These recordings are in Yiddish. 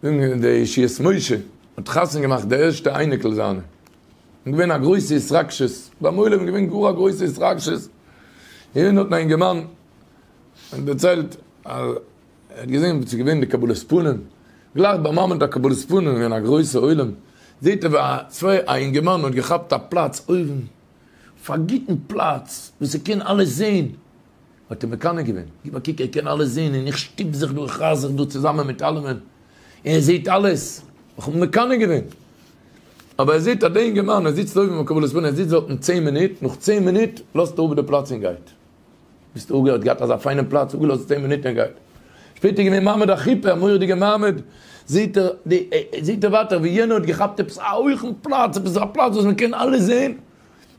זינגען די ישועות משה האט חתונה געמאכט די ערשטע אייניקל זיינע און געווען א גרויסע התרגשות ביים עולם געווען גאר א גרויסע התרגשות און האט א אינגערמאן דערציילט אז ער האט געזען וואס איז געווען די קבלת פנים גלייך ביים מעמד הקבלת פנים איז געווען א גרויסע עולם זעהט ער ווי א אינגערמאן האט געכאפט א פלאץ אויבן אויף א גוטן פלאץ וואס ער קען אלעס זעהן. האט ער מקנא געווען, גיב א קוק ער קען אלעס זעהן און איך שטופ זיך דא איך רייס זיך דא צוזאמען מיט אלעמען און ער זעהט אלעס, איך האב מקנא געווען, אבער ער זעהט אז דער אינגערמאן ער זיצט אויבן ביים קבלת פנים ער זיצט דארטן צען מינוט, נאך צען מינוט לאזט ער אפ די פלאץ און גייט, ביסט אפגע האט געהאט אזא פיינעם פלאץ אפגעלאזט צען מינוט און גייט, שפעטער געווען מעמד א חופה א מורא'דיגע מעמד, זעהט ער די זעהט ער ווייטער ווי יענער האט געכאפט עפעס א הויכן פלאץ עפעס א פלאץ וואס מען קען אלעס זעהן,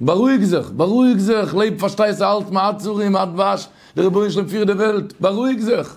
בארואיג זיך, בארואיג זיך, לעב פארשטייסטו אלץ מעצרים עד דבש, דער רבונו של עולם פירט די וועלט, בארואיג זיך.